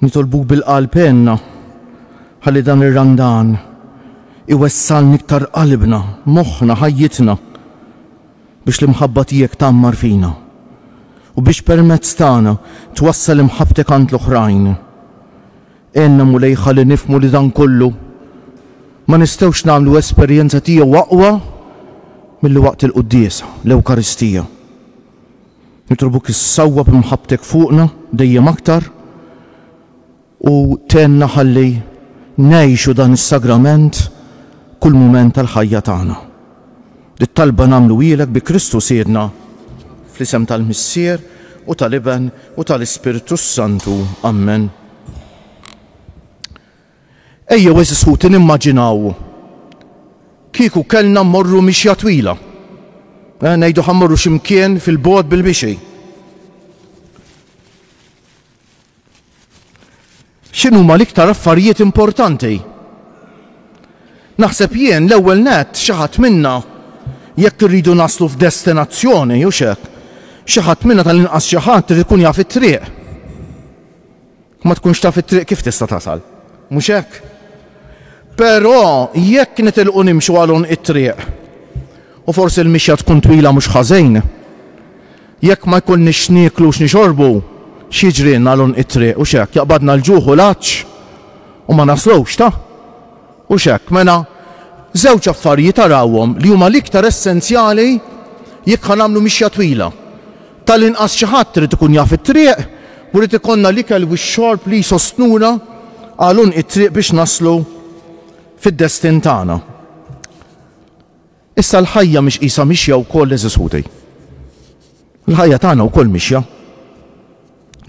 Nitolbuk bil-qalb għenna ħalli dan ir-Randan iwessalni iktar qalbna, moħħna, ħajjitna biex l-imħabba tiegħek tgħammar fina u biex permezz tagħna twassal imħabbtek għand l-oħrajn. Għenna Mulej ħalli nifhmu li dan kollu ma nistgħux nagħmlu esperjenza tiegħu aqwa milli waqt il-Quddiesa, l-Ewkaristija. Nitlobuk issawwab imħabbtek fuqna dejjem aktar u tgħinna ħalli ngħixu dan is-sagrament kull mument tal-ħajja tagħna. Dit-talba nagħmluhielek bi Kristu Sidna, fl-isem tal-Missier u tal-Iben u tal-Ispirtu s-Santu. Ammen. Ejjew għeżież ħuti nimmaġinaw kieku kellna mmorru mixja twila. Eh, ngħidu ħa mmorru xi mkien fil-bogħod bil-mixi. X'inhuma l-iktar affarijiet importanti? Naħseb jien l-ewwel nett xi ħadd minna jekk irridu naslu f'destinazzjoni u xek, xi ħadd minna tal-inqas xi ħadd irid ikun jaf it-triq. Ma tkunx taf it-triq kif tista' tasal. Mhux hekk? Però jekk nitilqu nimxu għal għonq it-triq, u forsi l-mixja tkun twila mhux ħażin, jekk ma jkollniex x'nieklu u x'nixorbu, x'jiġrilna għal għonq it-triq, hux hekk, jaqbadna l-ġuħ u l-għatx u ma naslux, ta? Hux hekk? Mela, żewġ affarijiet arawhom li huma l-iktar essenzjali jekk ħa nagħmlu mixja twila. Tal-inqas xi ħadd irid ikun jaf it-triq u jrid ikollna l-ikel u x-xorb li jsostnuna għal għonq it-triq biex naslu fid-destin tagħna. Issa l-ħajja mhix qisha mixja wkoll għeżież ħuti. Il-ħajja tagħna wkoll mixja.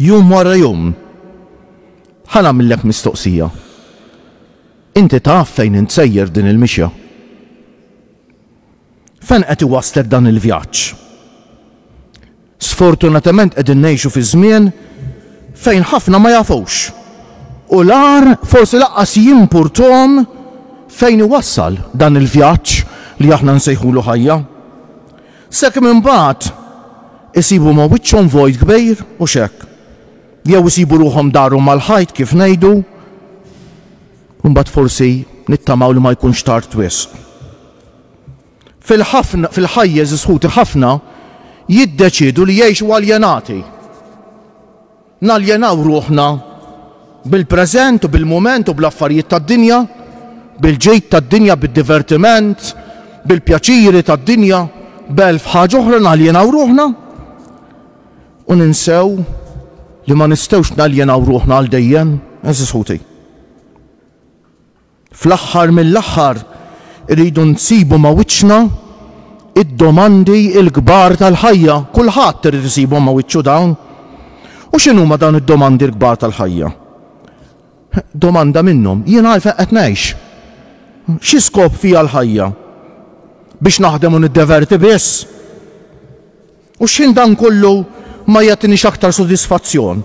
Jum wara jum. Ħa nagħmillek mistoqsija. Inti taf fejn int sejjer din il-mixja? Fejn qed iwasslek dan il-vjaġġ? Sfortunatament qegħdin ngħixu fi żmien fejn ħafna ma jafux u l-agħar forsi lanqas jimpurthom fejn iwassal dan il-vjaġġ li aħna nsejħulu ħajja. Sakemm imbagħad isibu ma' wiċċhom vojt kbir u x'hekk. Jew isibu ruħhom darhom mal-ħajt kif ngħidu u mbagħad forsi nittamaw li ma jkunx tard wisq. Fil-ħafna, fil-ħajjeż isħuti ħafna jiddeċiedu li jgħixu aljenati. Naljenaw ruħna bil-preżent u bil-mument u bl-affarijiet tad-dinja, bil-ġid tad-dinja, bid-divertiment, bil-pjaċiri tad-dinja, b'elf ħaġa oħra naljenaw ruħna u ninsew li ma nistgħux naljenaw ruħna għal dejjem, eżis ħuti. Fl-aħħar mill-aħħar irridu nsibu ma' wiċċna d-domandi l-kbar tal-ħajja, kulħadd irid isibhom ma' wiċċu dawn. U x'inhuma dawn id-domandi l-kbar tal-ħajja? Domanda minnhom, jien għalfejn qed ngħix? Xi skop fiha l-ħajja? Biex naħdem u niddeverti biss? U xħin dan kollu ma jagħtinix aktar sodisfazzjon?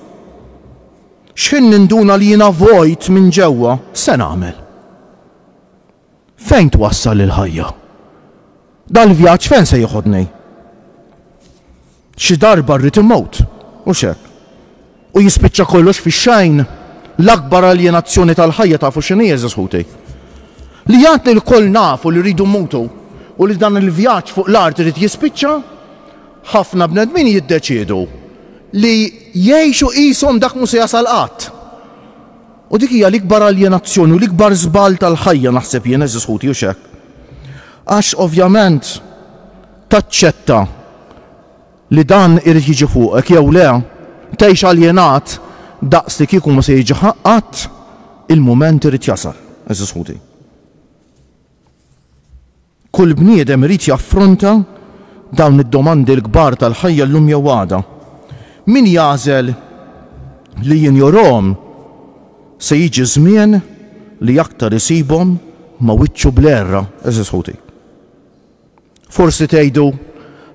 Xħin ninduna li jiena vojt minn ġewwa? X'se nagħmel? Fejn twassal il-ħajja? Dal-vjaġġ fejn se jiħodni? Xi darba rrid immut, hux hekk? U jispiċċa kollox fix-xgħin. L-akbar aljenazzjoni tal-ħajja tafu x'inhi għeżież ħuti? Li għad li lkoll nafu li rridu mmutu u li dan il-vjaġġ fuq l-art irid jispiċċa, ħafna bnedmin jiddeċiedu li jgħixu qishom dak mhu se jasal qatt. U dik hija l-ikbar aljenazzjoni u l-ikbar żball tal-ħajja naħseb jien għeżież ħuti hux hekk? Għax ovvjament taċċetta li dan irid jiġi fuqek jew le, tgħix aljenat daqs li kieku ma se jiġi qatt, il-mument irid jasal, għeżież ħuti. Kull bniedem irid jaffronta dawn id-domandi l-kbar tal-ħajja llum jew għada. Min jagħżel li jinjorhom se jiġi żmien li aktar isibhom ma' wiċċu bl-għerra, eżiż ħuti. Forsi tgħidu,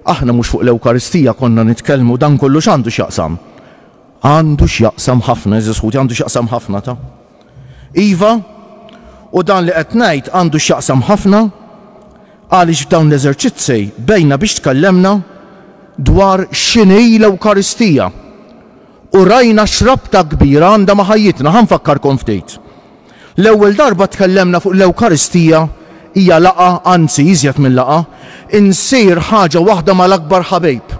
Aħna mhux fuq l-Ewkaristija konna nitkellmu, dan kollu x'għandu x'jaqsam? Għandu x'jaqsam ħafna, għeżież ħuti, għandu x'jaqsam ħafna ta'. Iva, u dan li qed ngħid għandu x'jaqsam ħafna għaliex f'dawn l-eżerċizzi bejna biex tkellemna dwar x'inhi l-Ewkaristija. U rajna x'rabta kbira għandha ma' ħajjitna. Ħa nfakkarkom ftit. L-ewwel darba tkellemna fuq l-Ewkaristija hija laqgħa, anzi iżjed minn laqgħa, insir ħaġa waħda mal-akbar ħabib,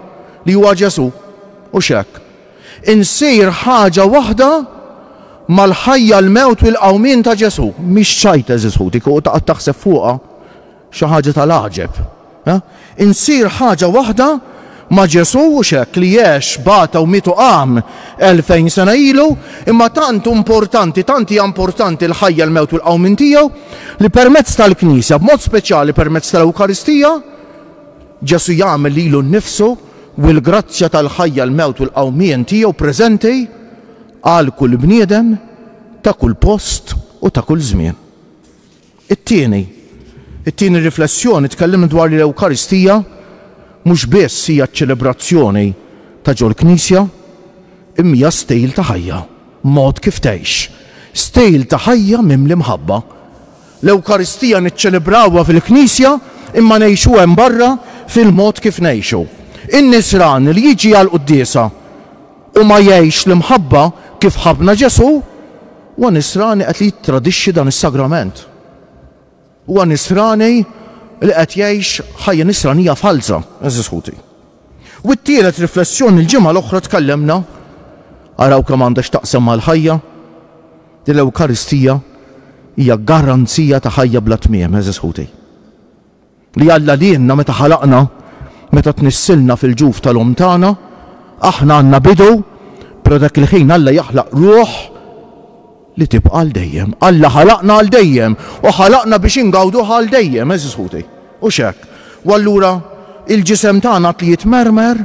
li huwa Ġesù, hux hekk? Insir ħaġa waħda mal-ħajja, l-mewt u l-qawmien ta' Ġesù. Mhix ċajt, għeżież ħuti, kieku taqgħod taħseb fuqha. Xi ħaġa tal-għaġeb, ha? Insir ħaġa waħda ma' Ġesù, hux hekk, li għex, bata u miet u qam elfejn sena ilu, imma tant hu importanti, tant hija importanti l-ħajja, l-mewt u l-qawmien tiegħu, li permezz tal-Knisja, b'mod speċjali permezz tal-Ewkaristija, Ġesù jagħmel lilu nnifsu u l-grazzja tal-ħajja, l-mewt u l-qawmien tiegħu preżenti għal kull bniedem ta' kull post u ta' kull żmien. It-tieni, it-tieni riflessjoni, tkellimna dwar li l-Ewkaristija mhux biss hija ċ-ċelebrazzjoni ta' ġol-Knisja, imma hija stil ta' ħajja, mod kif tgħix, stil ta' ħajja mimli mħabba. L-Ewkaristija niċċelebrawha fil-Knisja imma ngħixuha hemm barra fil-mod kif ngħixu. In-nisran li jiġi għall-quddiesa, U ma jgħixx l-imħabba kif ħabbna Ġesù, huwa Nisrani qed li jittradixxi dan is-Sagrament. Huwa Nisrani li qed jgħix ħajja Nisranija falza, għeżież ħuti. U t-tielet riflessjoni l-ġimgħa l-oħra tkellemna, araw kemm għandha x'taqsam mal-ħajja, li l-Ewkaristija hija garanzija ta' ħajja bla tmiem, għeżież ħuti. Li Alla lienna meta ħalaqna, meta tnissilna fil-ġuf tal-omm tagħna, aħna għandna bidu, però dak il-ħin Alla jaħlaq ruħ li tibqa' għal dejjem. Alla ħalaqna għal dejjem u ħalaqna biex ingawduha għal dejjem, għeżież ħuti. Hux hekk? U allura il-ġisem tagħna għad li jitmermer,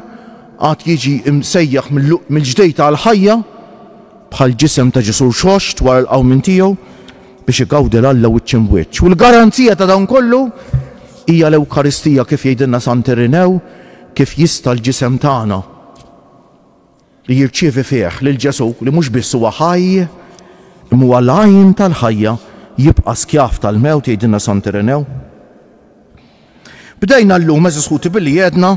għad jiġi msejjaħ mill-ġdejt għall-ħajja, bħall-ġisem ta' Ġesù rxoxt wara l-qawmien tiegħu, biex igawdi l-Alla wiċċ imb'wiċċ. U l-garanzija ta' dan kollu hija l-Ewkaristija, kif jgħidilna Sant Irinew, kif jista' l-ġisem tagħna, li jirċievi fih lil Ġesù, li mhux biss huwa ħaj, imma huwa l-għajn tal-ħajja, jibqa' skjav tal-mewt, jgħidilna Sant Irinew. Bdejna llum, għeżież ħuti, billi għedna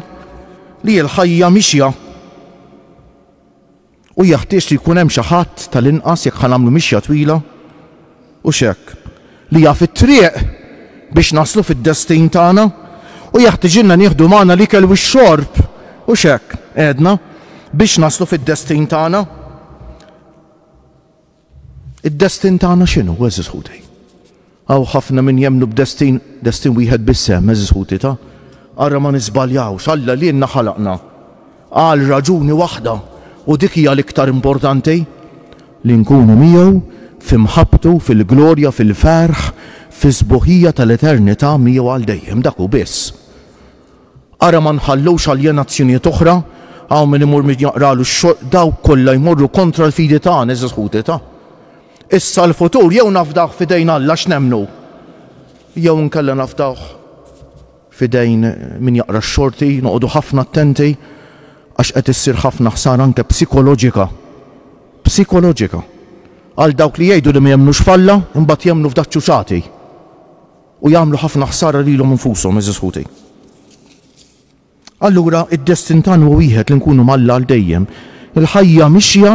li l-ħajja mixja. u jeħtieġ li jkun hemm xi ħadd, tal-inqas jekk ħa nagħmlu mixja twila, u x'hekk, li jaf it-triq biex naslu fid-destin tagħna, u jeħtiġilna nieħdu magħna l-ikel u x-xorb, u x'hekk, għedna, biex naslu fid-destin tagħna. Id-destin tagħna x'inhu, għeżież ħuti? Hawn ħafna min jemmnu b'destin, destin wieħed biss hemm, għeżież ħuti, ta? Ara ma niżbaljawx, Alla lilna ħalaqna għal raġuni waħda, u dik hija l-iktar importanti, li nkunu miegħu fi mħabbtu, fil-glorja, fil-ferħ, fis-sbuħija tal-eternità miegħu għal dejjem, dak hu biss. Ara ma nħallux aljenazzjonijiet oħra, hawn min imur min jaqralu x-xogħol, dawk kollha jmorru kontra l-fidi tagħna, għeżież ħuti ta'. Issa l-futur jew nafdawh f'idejn Alla x'nemmnu, jew inkella nafdawh f'idejn min jaqra x-xorti, noqogħdu ħafna attenti għax qed issir ħafna ħsara anke psikoloġika, psikoloġika, għal dawk li jgħidu li ma jemmnux f'Alla imbagħad jemmnu f'daċċuċati. U jagħmlu ħafna ħsara lilhom infushom, għeżież ħuti. Allura, id-destin tagħna huwa wieħed li nkunu m'Alla għal dejjem. Il-ħajja mixja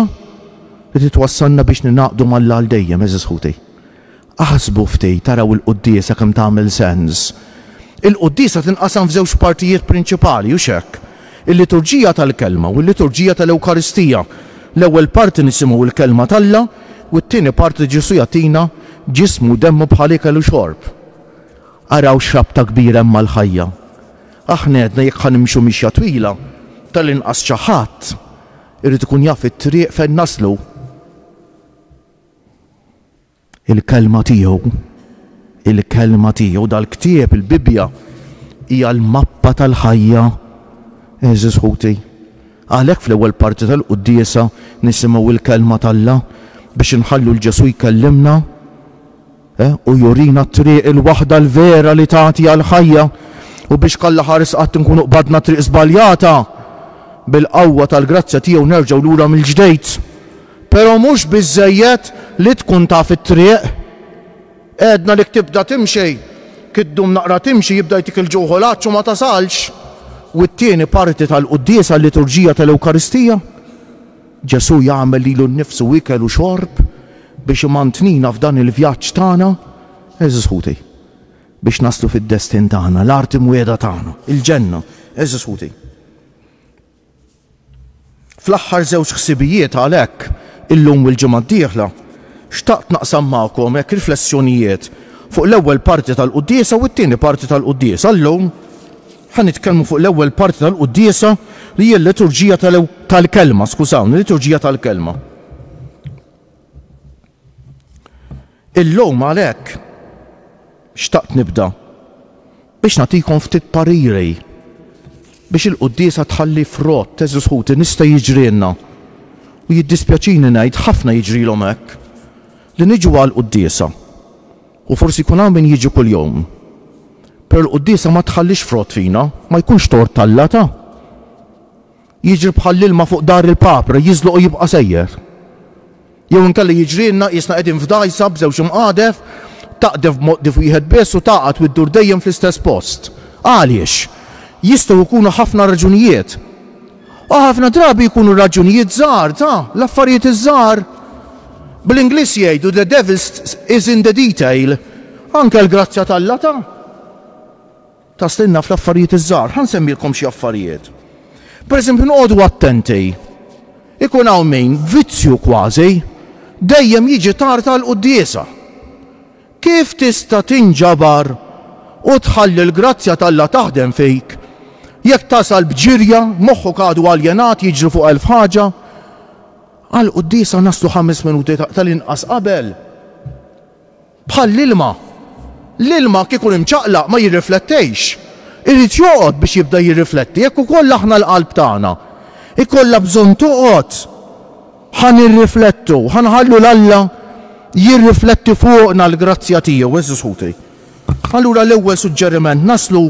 li twassalna biex ningħaqdu m'Alla għal dejjem, għeżież ħuti. Aħsbu ftit, araw il-quddiesa kemm tagħmel sens. Il-quddiesa tinqasam f'żewġ partijiet prinċipali, hux hekk? Il-Liturġija tal-Kelma u l-Liturġija tal-Ewkaristija, L-ewwel parti nisimgħu l-Kelma t'Alla u t-tieni parti Ġesù jagħtina Ġismu u Demmu bħal ikel u xorb. Araw x'rabta kbira hemm mal-ħajja! Aħna għedna jekk ħa nimxu mixja twila, tal-inqas xi ħadd irid ikun jaf it-triq fejn naslu. Il-Kelma tiegħu. Il-Kelma tiegħu. Dal-ktieb, il-Bibbja, hija l-mappa tal-ħajja, għeżież ħuti. Għalhekk fl-ewwel parti tal-quddiesa nisimgħu l-Kelma t'Alla biex inħallu 'l Ġesù jkellimna u jurina t-triq il-waħda l-vera li tagħti għall-ħajja u biex kalla ħares qatt inkunu qbadna t-triq żbaljata, bil-qawwa tal-grazzja tiegħu nerġgħu lura mill-ġdejt. Però mhux biżżejjed li tkun taf it-triq. Għedna li jekk tibda timxi, kif ddum naqra timxi jibda jtik il-ġuħ u l-għatx u ma tasalx. U t-tieni parti tal-quddiesa, l-liturġija tal-Ewkaristija? Ġesù jagħmel lilu nnifsu ikel u xorb biex imantnina f'dan il-vjaġġ tagħna, għeżież ħuti, biex naslu fid-destin tagħna, l-art imwiegħda tagħna, il-ġenna, għeżież ħuti. Fl-aħħar żewġ ħsibijiet għalhekk, illum u l-ġimgħa d-dieħla, xtaqt naqsam magħkom hekk riflessjonijiet fuq l-ewwel parti tal-quddiesa u t-tieni parti tal-quddiesa. Illum ħa nitkellmu fuq l-ewwel parti tal-quddiesa li hija l-liturġija tal-kelma, skużawni, liturġija tal-kelma. Illum għalhekk xtaqt nibda biex nagħtikom ftit pariri biex il-quddiesa tħalli frott, għeżież ħuti, nista' jiġrielna, u jiddispjaċini ngħid ħafna jiġrilhom hekk, li niġu għall-quddiesa, u forsi jkun hawn min jiġi kuljum, però l-quddiesa ma tħallix frott fina, ma jkunx tort t'Alla ta? Jiġri bħall-ilma fuq dar il-papra, jiżloq u jibqa' sejjer. Jew inkella jiġrilna qisna qegħdin f'dgħajsa b'żewġ imqadef, taqdef b'moqdif wieħed biss u tagħqad u ddur dejjem fl-istess post. Għaliex? Jistgħu jkunu ħafna raġunijiet. U ħafna drabi jkunu raġunijiet żgħar ta' l-affarijiet iż-żgħar. Bl-Ingliż jgħidu the devil is in the detail. Anke l-grazzja t'Alla ta' Taslilna fl-affarijiet iż-żgħar. Ħa nsemmilkom xi affarijiet. Pereżempju, noqogħdu attenti. Ikun hawn min, vizzju kważi, dejjem jiġi tard għall-quddiesa. Kif tista' tinġabar u tħalli l-grazzja t'Alla taħdem fik jekk tasal b'ġirja, moħħok għadu aljenat, jiġri fuq elf ħaġa? Għall-quddiesa naslu ħames minuti tal-inqas qabel. Bħall-ilma. L-ilma kieku imċaqlaq ma jirriflettejx. Irid joqgħod biex jibda jirrifletti. Hekk ukoll aħna l-qalb tagħna jkollha bżonn toqgħod. Ħa nirriflettu, ħa nħallu 'l Alla jirrifletti fuqna l-grazzja tiegħu. Eżis ħuti. Allura l-ewwel suġġeriment naslu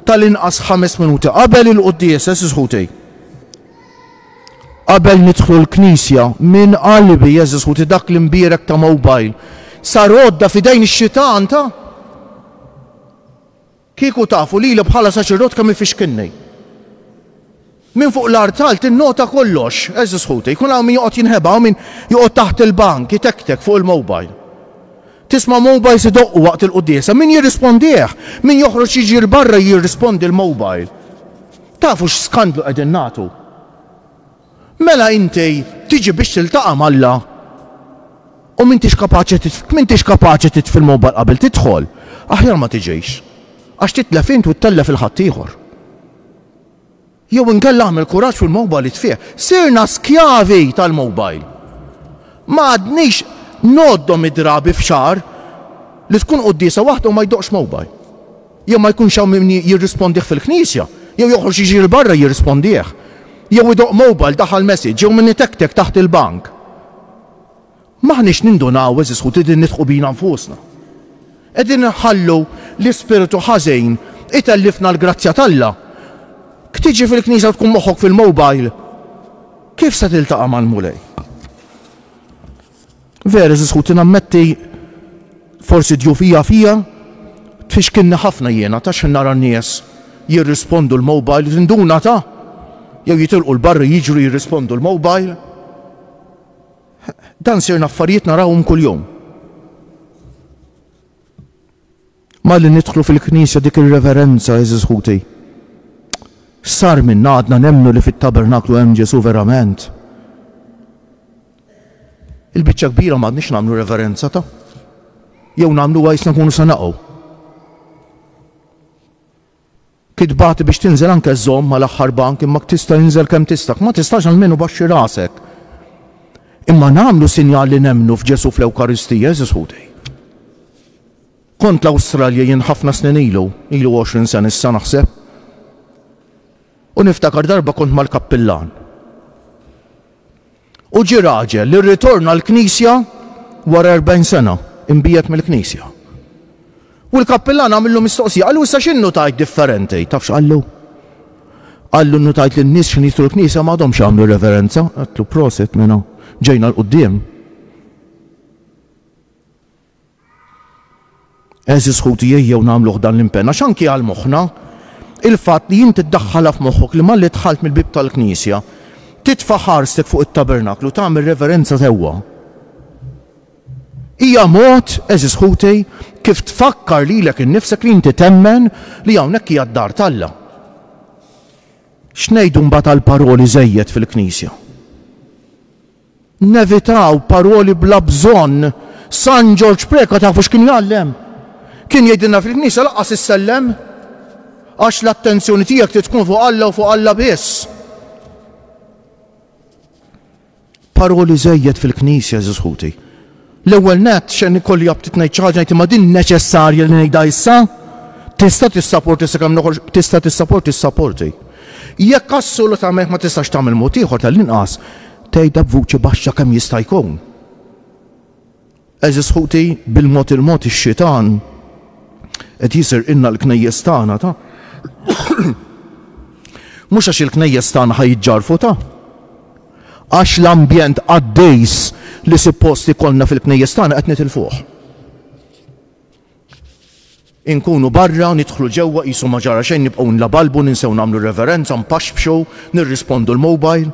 tal-inqas ħames minuti qabel il-quddiesa, eżis ħuti. Qabel nidħlu l-knisja, min qal bi Jeżus ħuti dak l-imbierek ta' mowbajl sar għodda f'idejn ix-xitan ta'? Kieku tafu lili bħala saċerdot kemm ifixkilni. Min fuq l-artal tinnota kollox, eżis ħuti, jkun hawn min joqgħod jinħeba u min joqgħod taħt il-bank, jitektek fuq il-mobile. Tisma' mobile si doqqu waqt il-quddiesa, min jirrispondih, min joħroġ jiġi l-barra jirrispondi l-mobile. Tafu x'skandlu qegħdin nagħtu? Mela inti tiġi biex tiltaqa' m'Alla u m'intix kapaċi m'intix kapaċi titfi l-mobile qabel tidħol, aħjar ma tiġix, għax titlef int u ttellef il-ħaddieħor. Jew inkella agħmel kuraġġ fil-mobile itfih. Sirna skjavi tal-mobile. Ma għadniex ngħoddhom id-drabi f'xahar li tkun quddiesa waħda u ma jdoqqx mobile. Jew ma jkunx hawn min jirrispondih fil-knisja, jew joħroġ jiġri 'l barra jirrispondih. Jew idoqq mobile daħal message, jew min itektek taħt il-bank. M'aħniex nindunaw, għeżież ħuti, li nidħqu bina nfusna. Qegħdin inħallu li spiritu ħażin itellifna l-grazzja t'Alla. K tiġi fil-knisja u tkun moħħok fil-mobile, kif se tiltaqa' mal-Mulej? Vera, eżiż ħuti, nammetti forsi djufija fija, tfixkilni ħafna jiena ta' xħin nara n-nies jirrispondu l-mobile, tinduna ta' jew jitilqu l-barri jiġru jirrispondu l-mobile. Dan sirna affarijiet narawhom kuljum. Malli nidħlu fil-knisja dik ir-reverenza, għeżież ħuti. X'sar minna għadna nemmnu li fit-tabernaklu hemm Ġesù verament? Il-biċċa kbira m'għadniex nagħmlu reverenza ta' jew nagħmluha jisna nkunu se naqgħu. Kitba ti biex tinżel anke żżomm ma l-aħħar bank imma tista' inżel kemm tista' kma tistax almenu baxxi rasek. Imma nagħmlu sinjal li nemmnu f'Ġesù fl-Ewkaristija għeżież ħuti. Kont l-Awstralja jien ħafna snin ilu, ilu għoxrin sen issa naħseb. U niftakar darba kont mal-kappillan. U ġie raġel li rritorna l-Knisja wara erbgħin sena, imbiegħed mill-Knisja. U l-kappillan għamillu mistoqsija, qallu, Issa xi nnutajt differenti? Taf x'qallu? Qallu, Nnutajt li n-nies x'ħin jidħlu l-knisja ma għadhomx jagħmlu reverenza. Għedtlu, Prosit, mena, ġejna 'l quddiem. Eżis ħuti ejjew nagħmluh dan l-impenn għax anki għal moħħna il-fatt li inti ddaħħalha f'moħħok li malli dħalt mill-bieb tal-knisja titfa' ħarstek fuq it-tabernaklu tagħmel reverenza sewwa. Hija mod, eżis ħuti, kif tfakkar lilek innifsek li inti temmen li hawnhekk hija d-dar t'Alla. X'ngħidu mbagħad għall-paroli żejjed fil-knisja? Nevitaw paroli bla bżonn. San Ġorġ Preca tafu x'kien jgħallem? Kien jgħidilna fil-knisja lanqas issellem, għax l-attenzjoni tiegħek trid tkun fuq Alla u fuq Alla biss. Paroli żejjed fil-knisja, għeżież ħuti. L-ewwel nett, x'għen ikolli aptit ngħid xi ħaġa, ngħid imma din neċessarja li ngħidha issa? Tista' tissaporti sakemm noħorġ, tista' tissaporti ssaporti. Jekk assolutament ma tistax tagħmel mod ieħor tal-inqas tgħidha b'vuċi baxxa kemm jista' jkun. Għeżież ħuti, bil-mod il-mod ix-xitan qed jisirqilna l-knejjes tagħna ta' mhux għax il-knejjes tagħna ħa jiġġarfu ta' għax l-ambjent qaddejs li suppost ikollna fil-knejjes tagħna qed nitilfuh. Inkunu barra, nidħlu ġewwa qisu ma ġara xejn nibqgħu nlabalbu, ninsew nagħmlu reverenza, npaxxpxu, nirrispondu l-mobile.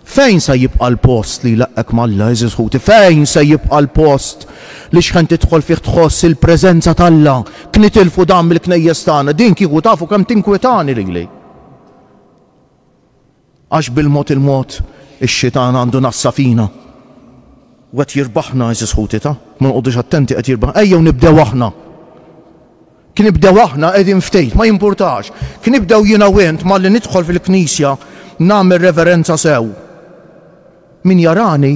Fejn sa jibqa' l-post li jlaqqek m'Alla, għeżież ħuti? Fejn se jibqa' l-post li xħen tidħol fih tħoss il-preżenza t'Alla? Knitilfu dan mill-knejjes tagħna, din kieku tafu kemm tinkwetani lili. Għax bil-mod il-mod ix-xitan għandu nassa fina u qed jirbaħna għeżież ħuti ta. Ma noqogħdux attenti qed jirbaħ ejjew nibdew aħna. Knibdew aħna qegħdin ftejt ma jimpurtax. Knibdew jiena u int malli nidħol fil-knisja nagħmel reverenza sew. Min jarani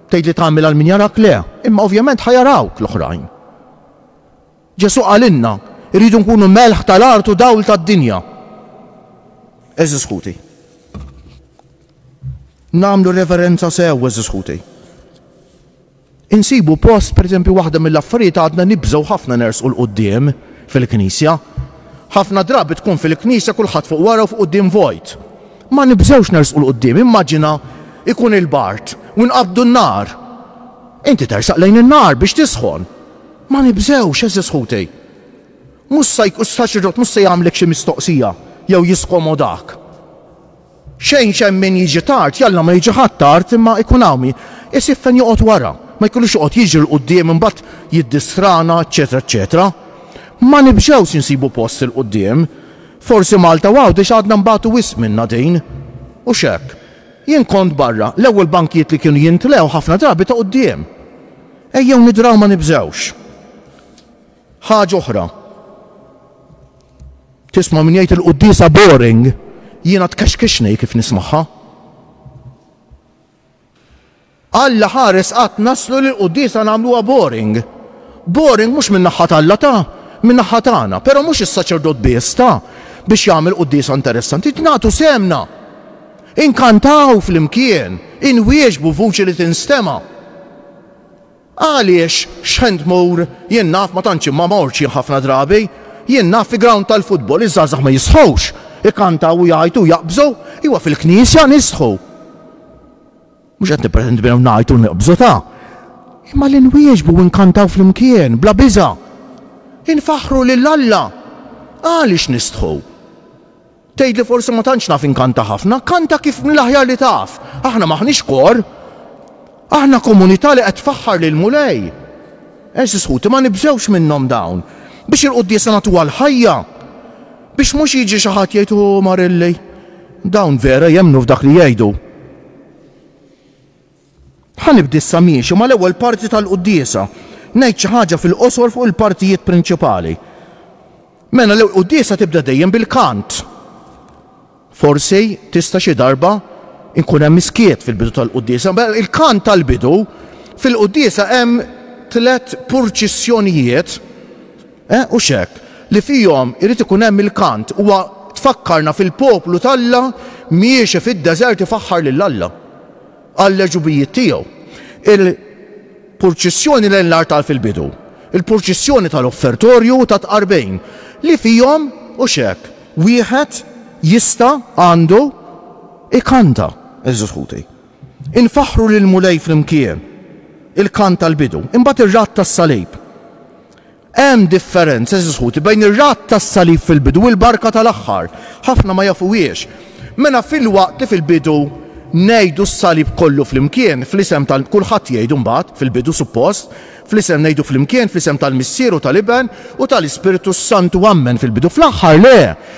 tgħid li tagħmel għal min jarak le. Imma ovvjament ħa jarawk l-oħrajn. Ġesù qalilna, Irridu nkunu melħ tal-art u dawl tad-dinja. Għeżież ħuti, nagħmlu reverenza sew, għeżież ħuti. Insibu post, pereżempju, waħda mill-affarijiet għadna nibżgħu ħafna nersqu 'l quddiem fil-Knisja. Ħafna drabi tkun fil-Knisja kulħadd fuq wara u fuq quddiem vojt. Ma nibżgħux nersqu 'l quddiem, immaġina jkun il-bard u nqabbdu n-nar. Inti tersaq lejn in-nar biex tisħon. Ma nibżgħux, għeżież ħutej. Mhux sa jkun, s-saċerdot mhux se jagħmlek xi mistoqsija jew jiskomodak. Xejn x'hemm min jiġi tard, jalla ma jiġi ħadd tard, imma jkun hawn min isib fejn joqgħod wara. Ma jkollux joqgħod jiġri 'l quddiem imbagħad jiddistrana, eċċetera, eċċetera. Ma nibżgħux insibu post 'il quddiem. Forsi Malta u Għawdex għadna nbatu wisq minnha din. U x'hekk. Jien kont barra, l-ewwel bankijiet li kienu jintlew ħafna drabi ta' quddiem. Ejjew nidraw ma nibżgħux. Ħaġa oħra. Tisma' min jgħid il-quddiesa boring, jiena tkexkixni kif nismagħha. Alla ħares qatt naslu li l-quddiesa nagħmluha boring. Boring mhux minn naħħa t'Alla ta, minn naħħa tagħna, però mhux is-saċerdot biss ta, biex jagħmel quddiesa interessanti, nagħtu semna. Inkantaw flimkien, inwieġbu b'vuċi li tinstema'. Għaliex x'ħen tmur, jien naf ma tantx imma mortx jien ħafna drabi, jien naf fi grawnd tal-futbol iż-żgħażagħ ma jistħux, ikantaw u jgħajtu u jaqbżu, iwa fil-Knisja nistħu. Mhux qed nippretendi minn hawn ngħajtu u neqbżu ta'. Imma li nwieġbu u nkantaw flimkien, bla biża'. Infaħħru lil Alla. Għaliex nistħu? Tgħid li forsi ma tantx naf inkanta ħafna, kanta kif mill-aħjar li taf. Aħna m'aħniex kor. Aħna komunità li qed tfaħħar lill-Mulej. Għeżież ħuti, ma nibżgħux minnhom dawn. Biex il-quddiesa nagħtuha l-ħajja. Biex mhux jiġi xi ħadd jgħid, O Marilli, dawn vera jemmnu f'dak li jgħidu. Ħa nibdi issa miexi mal-ewwel parti tal-quddiesa. Ngħid xi ħaġa fil-qosor fuq il-partijiet prinċipali. Mela l-ewwel quddiesa tibda dejjem bil-kant. Forsi tista' xi darba nkun hemm iskiet fil-bidu tal-quddiesa, mela il-kant tal-bidu fil-quddiesa hemm tliet purċissjonijiet eh, u x'hekk li fihom irid ikun hemm il-kant huwa tfakkarna fil-poplu t'Alla miexi fid-deżert ifaħħar lil Alla. għall-għeġubijiet tiegħu. Il-purċissjoni lejn l-artal fil-bidu, il-purċissjoni tal-offertorju u tat-tqarbejn, li fihom, u x'hekk, wieħed jista', għandu, ikanta, għeżież ħuti. Infaħħru lill-Mulej flimkien, il-kant tal-bidu, imbagħad ir-radd tas-salib. Hemm differenza, għeżież ħuti, bejn ir-radd tas-salib fil-bidu u l-barka tal-aħħar. Ħafna ma jafuhiex. Mela filwaqt li fil-bidu ngħidu s-salib kollu flimkien, fl-isem tal-, kulħadd jgħidu mbagħad, fil-bidu suppost, fl-isem ngħidu flimkien, fl-isem tal-Missier u tal-Iben u tal-Ispirtu s-Santu ammen, fil-bidu, fl-aħħar le,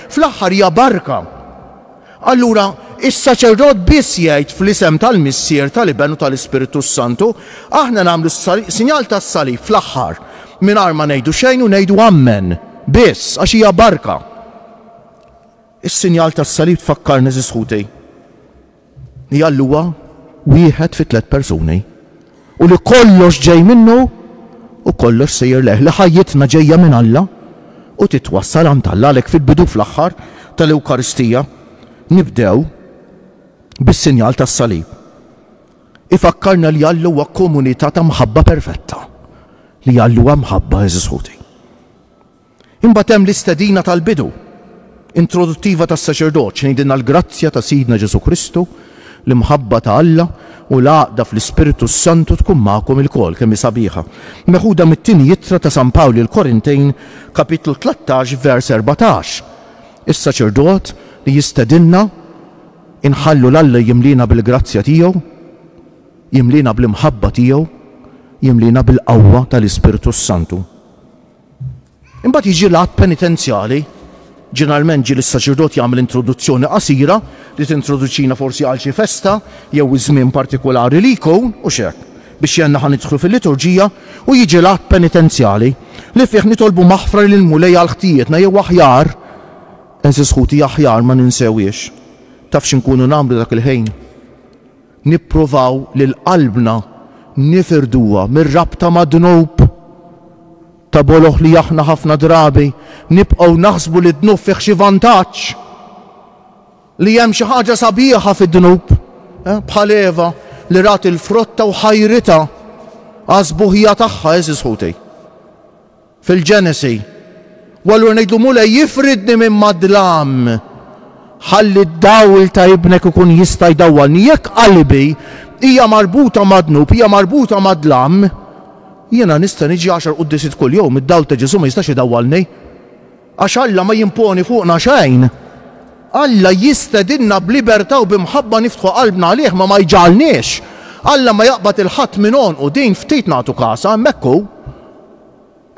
fl-aħħar hija barka. Allura, is-saċerdot biss jgħid fl-isem tal-Missier, tal-Iben u tal-Ispirtu s-Santu, aħna nagħmlu s-sinjal tas-salib fl-aħħar, mingħajr ma ngħidu xejn u ngħidu Ammen biss, għax hija barka. Is-sinjal tas-salib tfakkarni, eżiż ħuti, hija l-Huwa wieħed fi tliet persuni. u li kollox ġej minnu u kollox sejjer lejh, li ħajjitna ġejja minn Alla u titwassal għand Alla, għalhekk fil-bidu u fl-aħħar tal-Ewkaristija nibdew bis-sinjal tas-salib. Ifakkarna li Alla huwa komunità ta' mħabba perfetta, li Alla huwa mħabba għeżież ħuti. Imbagħad hemm l-istedina tal-bidu, introduttiva tas-saċerdot, x'ngħidilna l-grazzja ta' Sidna Ġesù Kristu, l-imħabba ta' Alla u l-għaqda fl-Ispirtu s-Santu tkun magħkom ilkoll, kemm hi sabiħa. Meħuda mit-Tieni Ittra ta' San Pawl lill-Korintejn, kapitlu tlettax, vers erbatax. Is-saċerdot li jistedinna, inħallu 'l Alla jimliena bil-grazzja tiegħu, jimliena bl-imħabba tiegħu, jimliena bil-qawwa tal-Ispirtu s-Santu. Imbagħad jiġi l-att penitenzjali. Ġeneralment ġieli s-saċerdot jagħmel introduzzjoni qasira li tintroduċina forsi għal xi festa jew iż-żmien partikulari li jkun, u x'hekk, biex jgħinna ħa nidħlu fil-liturġija, u jiġi l-att penitenzjali, li fih nitolbu maħfra lill-Mulej għal ħtijietna jew aħjar, għeżież ħuti aħjar ma ninsewhiex. Taf x'inkunu nagħmlu dak il-ħin? Nippruvaw lil qalbna nifirduha mir-rabta mad-dnub? Ta' boloh li aħna ħafna drabi nibqgħu naħsbu li d-dnub fih xi vantaġġ, li hemm xi ħaġa sabiħa fid-dnub, bħal Eva li rat il-frotta u ħajritha għas-sbuħija tagħha, għeżież ħuti. Fil-Ġenesi, u allura ngħidlu, Mulej, ifridni minn mad-dlam, ħalli d-dawl ta' Ibnek ikun jista' jdawwalni. Jekk qalbi hija marbuta mad-dnub, hija marbuta mad-dlam, jiena nista' niġi għaxar quddiesiet kuljum, id-dawl ta' Ġesù ma jistax idawwalni. Għax Alla ma jimponi fuqna xejn. Alla jistedinna b'libertà u b'imħabba niftħu qalbna għalih, ma ma jġagħalniex. Alla ma jaqbad 'il ħadd minn għonqu, din ftit nagħtu kasha, hemmhekk hu.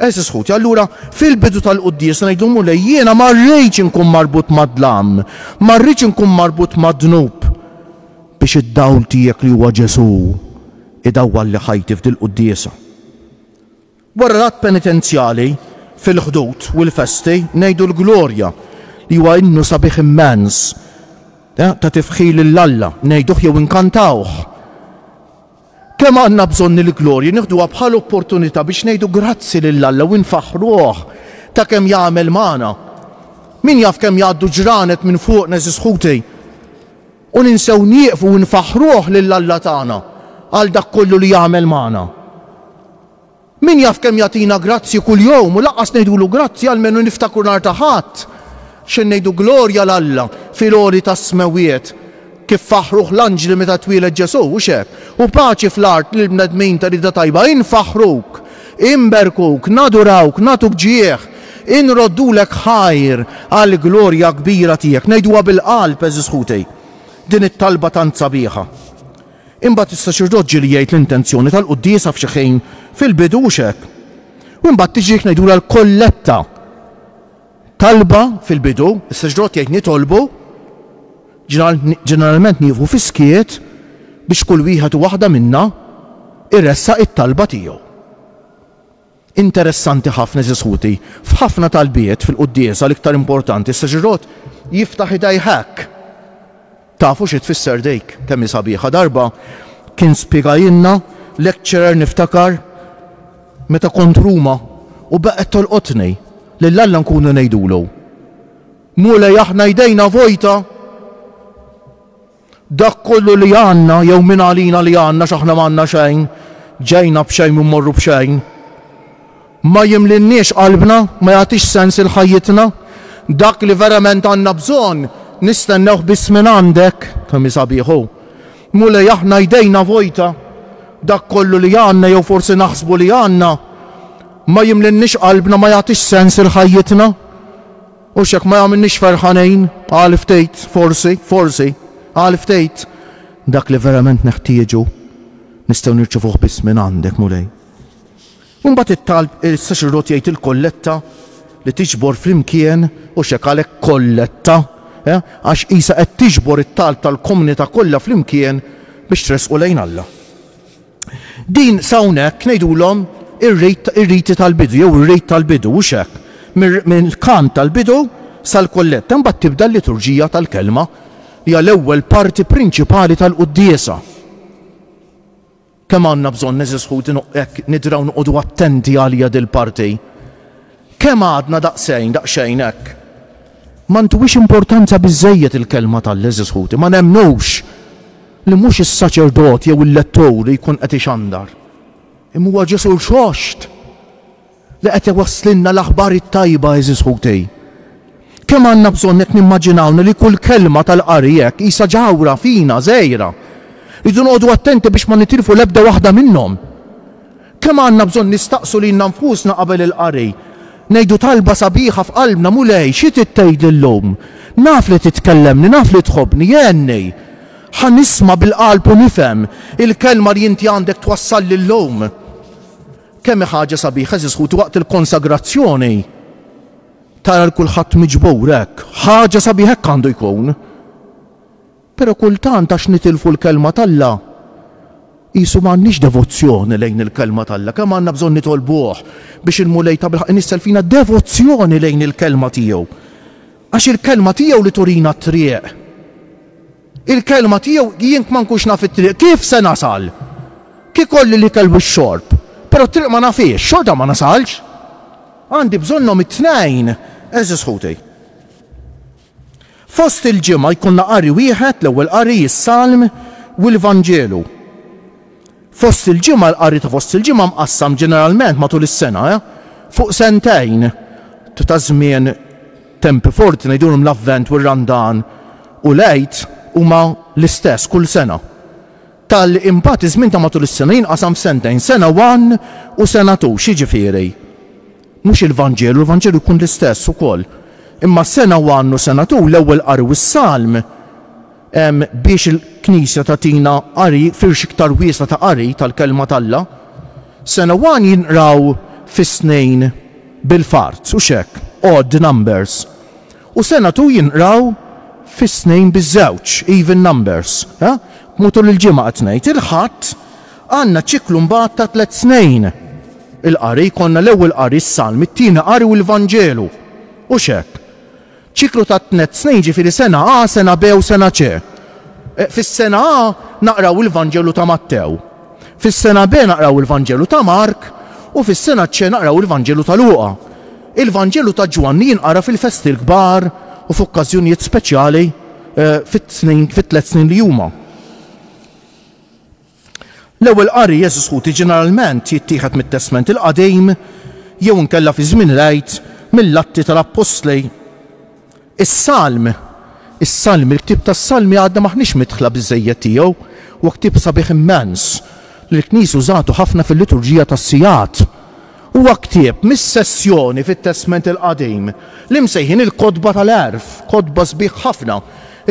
Għeżież ħuti, allura fil-bidu tal-quddiesa ngħidu l-Mulej, jiena ma rridx inkun marbut mad-dlam, ma rridx inkun marbut mad-dnub, biex id-dawl tiegħek li huwa Ġesù idawwalli ħajti f'dil-quddiesa. Wara l-att penitenzjali, fil-Ħdud u l-festi, ngħidu l-Glorja, li huwa innu sabiħ immens ta' tifħir lil Alla, ngħiduh jew inkantawh. Kemm għandna bżonn il-glorja, nieħduha bħal opportunità biex ngħidu grazzi lil Alla u nfaħħruh ta' kemm jagħmel magħna. Min jaf kemm jgħaddu ġranet minn fuqna, għeżież ħuti, u ninsew nieqfu u nfaħħruh lil Alla tagħna għal dak kollu li jagħmel magħna. Min jaf kemm jagħtina grazzji kull jowm u lanqas ngħidulu grazzi almenu niftakru nhar ta' Ħadd xejn ngħidu glorja 'l Alla fil-għoli tas-smewwiet kif faħħruh l-anġli meta twieled Ġesù, hux hekk? u paċi fl-art lill-bnedmin ta' rieda tajba infaħħruk, inberkuk, nadurawk, nagħtuk ġieħ, inroddulek ħajr għall-glorja kbira tiegħek. Ngħiduha bil-qalb għeżiż ħuti din it-talba tant sabiħa. Imbagħad is-saċerdot ġieli jgħid l-intenzjoni tal-quddiesa f'xi ħin fil-bidu, hux hekk? U imbagħad tiġi ngħidulha l-kolletta. Talba fil-bidu, is-saċerdot jgħid nitolbu, ġeneralment nieqfu fis-skiet biex kull wieħed u waħda minna jressaq it-talba tiegħu. Interessanti ħafna għeżież ħuti, f'ħafna talbiet fil-quddiesa l-iktar importanti s-saċerdot jiftaħ idejh hekk, Tafu xi tfisser dik? Kemm hi sabiħa! Darba kien spjegajilna lecturer niftakar meta kont Ruma u baqgħet tolqotni, lil Alla nkunu ngħidulu, Mulej aħna jdejna vojta! Dak kollu li għandna, jew min għalina li għandna għax aħna m'għandna xejn, ġejna b'xejn u mmorru b'xejn, ma jimlielniex qalbna, ma jagħtix sens il-ħajjitna. Dak li verament għandna bżonn, nistennewh biss mingħandek. Kemm sabiħ hu! Mulej, aħna jdejna vojta. Dak kollu li għandna, jew forsi naħsbu li għandna, ma jimlielniex qalbna, ma jagħtix sens il-ħajjitna. Hux jekk ma jagħmilniex ferħanin għal ftit, forsi, forsi, għal ftit, dak li verament neħtieġu nistgħu nirċevuh biss mingħandek, Mulej. U mbagħad it-talb is-saċerdot jgħid il-kolletta li tiġbor flimkien, hux hekk għalhekk kolletta, eh, għax qisha qed tiġbor it-talb tal-komunità kollha flimkien biex tressqu lejn Alla. Din s'hawnhekk ngħidulhom ir-riti tal-bidu jew ir-rit tal-bidu, hux hekk? Mill-kant tal-bidu sal-kollett. Imbagħad tibda l-liturġija tal-Kelma. Hija l-ewwel parti prinċipali tal-quddiesa. Kemm għandna bżonn għeżież ħuti hekk nidraw noqogħdu attenti għaliha dil-parti. Kemm għadna daqsejn, daqsxejn hekk. Ma ntuwiex importanza biżżejjed il-Kelma t'All għeżież ħuti, ma nemmnux li mhux is-saċerdot jew il-lettur li jkun qed ixandar, imma huwa Ġesù rxoxt li qed iwasslilna l-aħbar it-tajba għeżież ħuti. Kemm għandna bżonn hekk nimmaġinawna li kull kelma tal-qari hekk qisha ġawhra fina, żgħira. Rridu noqogħdu attenti biex ma nitilfu l-ebda waħda minnhom. Kemm għandna bżonn nistaqsu lilna nfusna qabel il-qari, ngħidu talba sabiħa f'qalbna, Mulej, xi trid tgħidli llum? Naf li titkellemni, naf li tħobbni, għenni! Ħa nisma' bil-qalb u nifhem il-kelma li inti għandek twassalli llum. Kemm hi ħaġa sabiħa, għeżież ħuti, waqt il-konsagrazzjoni tara 'l kulħadd miġbur hekk. Ħaġa sabiħa hekk għandu jkun. Però kultant għax nitilfu l-Kelma t'Alla, qisu m'għandniex devozzjoni lejn il-Kelma t'Alla. Kemm għandna bżonn nitolbuh biex il-Mulej tabilħaqq inissel fina devozzjoni lejn il-Kelma tiegħu. Għax il-Kelma tiegħu li turina t-triq. Il-Kelma tiegħu, jien kma nkunx naf it-triq, kif se nasal? Kif ikolli l-ikel u x-xorb, però t-triq ma nafhiex, xorta ma nasalx. Għandi bżonnhom it-tnejn, għeżież ħuti. Fost il-Ġimgħa jkollna qari wieħed, l-Ewwel Qari, is-Salm u l-Vanġelu. Fost il-Ġimgħa, il-qari ta' fost il-Ġimgħa mqassam ġeneralment matul is-sena fuq sentejn ta' żmien, tempi forti ngħidulhom l-Avvent u r-Randan u l-Għid huma l-istess kull sena. Talli imbagħad iż-żmien ta' matul is-sena jinqasam f'sentejn, sena one u sena two, x'jiġifieri? Mhux il-Vanġelu, l-Vanġelu jkun l-istess ukoll. Imma sena u annu sena tul l-ewwel qari u s-salm biex il-Knisja tagħtina qari, firx iktar wiesa' ta' qari tal-Kelma t'Alla. Sena u ann jinqraw fis-snejn bil-fart, hux hekk? Odd numbers. U sena tu jinqraw fis-snejn biż-żewġ, even numbers. Hu tul il-ġimgħa qed ngħid. Il-Ħadd Għandna ċiklu mbagħad ta' tliet snejn. Il-qari, jkollna l-ewwel qari s-Salm, it-tieni qari u l-Vanġelu. Hux hekk? Ċiklu ta' tnet snejn ġifieri sena A, sena B u sena C. Fis-sena A naqraw il-Vanġelu ta' Mattew. Fis-sena B naqraw il-Vanġelu ta' Mark u fis-sena C naqraw il-Vanġelu ta' Luqa. Il-Vanġelu ta' Ġwanni jinqara fil-festi l-kbar u f'okkażjonijiet speċjali fit-tlet snin li huma. L-ewwel qari jeżiskuti ġeneralment jittieħed mit-Testment il-Qadim jew inkella fi żmien il-Għid mill-Atti tal-Appostli. Is-Salm Is-Salmi Il-ktieb tas-Salmi għadna m'aħniex midħla biżżejjed tiegħu. Huwa ktieb sabiħ immens li l-Knisja użatu ħafna fil-liturġija tas-sigħat. Huwa ktieb mis-sezzjoni fit-Testment il-Qadim li msejħin il-Kotba tal-Għerf, kotba sbieħ ħafna.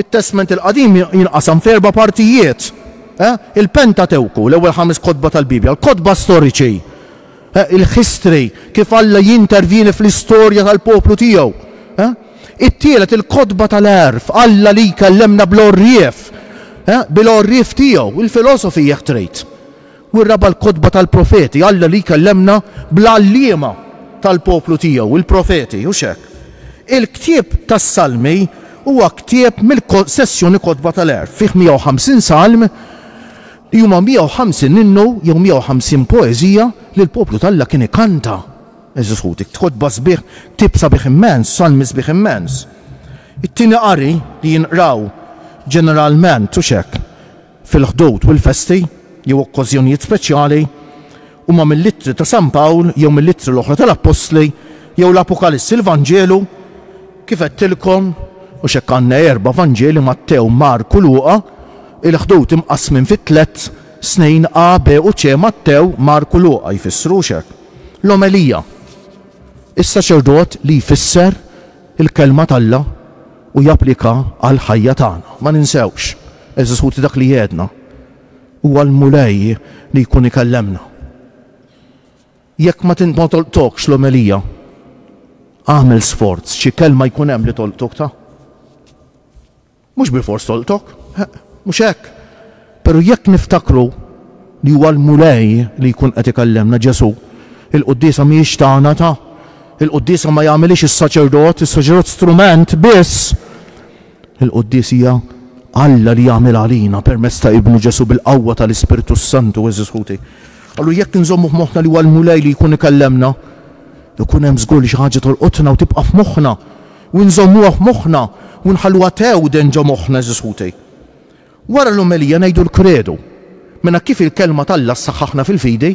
It-Testment il-Qadim jinqasam f'erba' partijiet, il-Pentatewku, l-ewwel ħames kotba tal-Bibbja, l-kotba storiċi, il-history, kif Alla jintervjeni fl-istorja tal-poplu tiegħu, it-tielet il-Kotba tal-Għerf, Alla li jkellemna bl-għorrief, bil-għorrief tiegħu, il-filosofi jekk trid. U r-raba' l-kotba tal-profeti, Alla li jkellemna bl-għalliema tal-poplu tiegħu, il-profeti, hux hekk? Il-ktieb tas-Salmi huwa ktieb mill-sessjoni Kotba tal-Għerf. Fih 150 salm, li huma 150 innu jew 150 poeżija li l-poplu t'Alla kien ikanta. Għeżież ħuti, kotba sbieħ, ktieb sabiħ immens, salmi sbieħ immens. It-tieni qari li jinqraw ġeneralment, hux hekk? fil-Ħdud u l-festi jew okkożjonijiet speċjali, huma mill-Ittri ta' San Pawl jew mill-Ittri l-oħra tal-Appostli jew l-Apokalissi l-Vanġelu, kif għedtilkom, għax hekk għandna erba' Vanġeli, Mattew, Mark u Luqa, il-Ħdud imqassmin fi tliet, snejn A, B u C, Mattew, Mark u Luqa, jfissrux hekk. L-Omelija. Is-saċerdot li jfisser Il-Kelma t'Alla u japplika għall-ħajja tagħna. Ma ninsewx, għeżież ħuti dak li għedna, Huwa l-Mulej li jkun ikellemna. Jekk ma tolqtokx l-omelija, agħmel sforz xi kelma jkun hemm li tolqtok ta. Mhux bilfors tolqtok, eħ, mhux hekk, però jekk niftakru li huwa l-Mulej li jkun qed ikellemna, Ġesù, il-quddiesa mhijiex tagħna, ta. Il-quddiesa ma jagħmilhiex is-saċerdot, is-saċerdot strument biss. Il-quddies hija Alla li jagħmilha għalina permezz ta' Ibnu Ġesù bil-qawwa tal-Ispirtu s-Santu, għeżież ħuti. Allura jekk inżommu f'moħħna li huwa l-Mulej li jkun ikellemna, ikun hemm żgur li xi ħaġa tolqotna u tibqa' f'moħħna. u nżommuha f'moħħna u nħalluha tewden ġo moħħna, għeżież ħuti. Wara l-omelija ngħidu l-Kredu. Minn hekk kif il-Kelma t'Alla ssaħħaħna fil-fidi,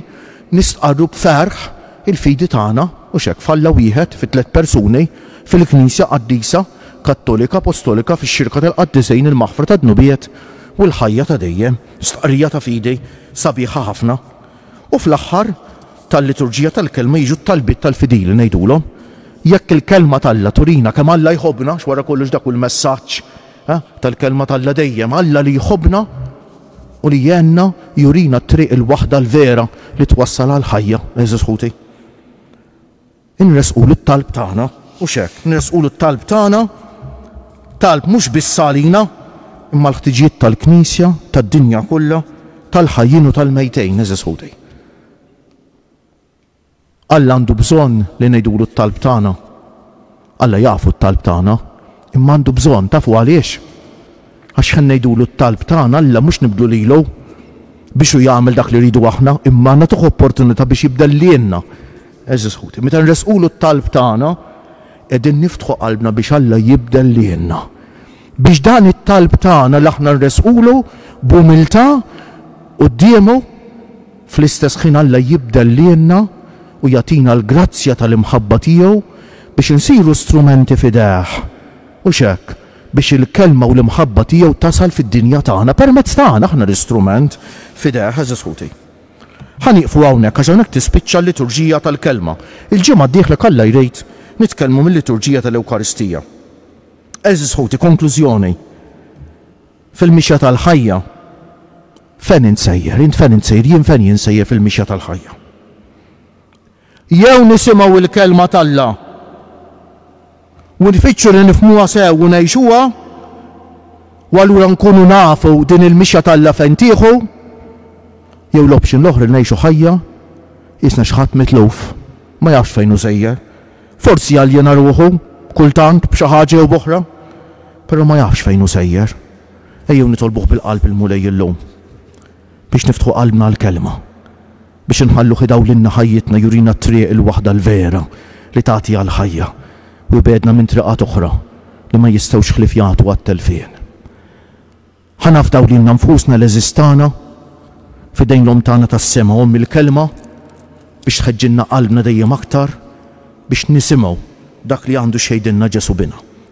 nistqarru b'ferħ il-fidi tagħna, hux hekk, f'Alla wieħed, fi tliet persuni, fil-Knisja qaddisa, kattolika, apostolika, fix-xirka tal-qaddisin, il-maħfra tad-dnubiet, u l-ħajja ta' dejjem. Stqarrija ta' fidi sabiħa ħafna. U fl-aħħar tal-liturġija tal-kelma jiġu t-talbiet tal-fidili, ngħidulhom, Jekk il-kelma t'Alla turina kemm Alla jħobbna, għax wara kollox dak hu l-messaġġ tal-kelma t'Alla dejjem, Alla li jħobbna u li jgħinna jurina t-triq il-waħda l-vera li twassal għall-ħajja, għeżież ħuti. Inressqulu t-talb tagħna, mhux hekk? Inressqulu t-talb tagħna, talb mhux biss għalina, imma għall-ħtiġijiet tal-Knisja, tad-dinja kollha, tal-ħajjin u tal-mejtejn, għeżież ħuti. Alla għandu bżonn li ngħidulu t-talb tagħna. Alla jafu t-talb tagħna, imma għandu bżonn, tafu għaliex? Għax ħa ngħidulu t-talb tagħna Alla mhux nibdlu lilu biex hu jagħmel dak li rridu aħna, imma nagħtuh opportunità biex jibdel lilna. Għeżież ħuti, meta nressqulu t-talb tagħna, qegħdin niftħu qalbna biex Alla jibdel lilna. Biex dan it-talb tagħna li aħna nressqulu b'umiltà quddiemu, fl-istess ħin Alla jibdel lilna u jagħtina l-grazzja tal-imħabba tiegħu biex insiru strumenti f'idejh. Hux hekk? biex il-kelma u l-imħabba tiegħu tasal fid-dinja tagħna permezz ta' għana, aħna l-istrument f'idejh, għeżież ħuti. Ħa nieqfu hawnhekk għax hawnhekk tispiċċa l-liturġija tal-kelma. Il-ġimgħa d-dieħla jekk Alla jrid nitkellmu mil-liturġija tal-Ewkaristija. Għeżież ħuti, konklużjoni, fil-mixja tal-ħajja fejn int sejjer, int fejn int sejjer, jien fejn jien sejjer fil-mixja tal-ħajja. Jew nisimgħu l-Kelma t'Alla u nfittxu li nifhmuha sew u ngħixuha, u allura nkunu nafu din il-mixja t'Alla fejn tieħu, jew l-option l-oħra li ngħixu ħajja qisna xi ħadd mitluf, ma jafx fejn hu sejjer. Forsi jaljena ruħu kultant b'xi ħaġa jew b'oħra, però ma jafx fejn hu sejjer. Ejjew nitolbuh bil-qalb il-Mulej illum biex niftħu qalbna għall-Kelma. Biex inħalluh idawwlilna ħajjitna jurina t-triq il-waħda l-vera li tagħti għall-ħajja u jbegħedna minn triqat oħra li ma jistgħux ħlief jagħtu għat-telfien. Ħa nafdaw lilna nfusna l-għeżież tagħna f'idejn l-Omm tagħna tas-sema, Omm il-Kelma, biex tħeġġilna qalbna dejjem aktar biex nisimgħu dak li għandu x'jgħidilna Ġesù bina.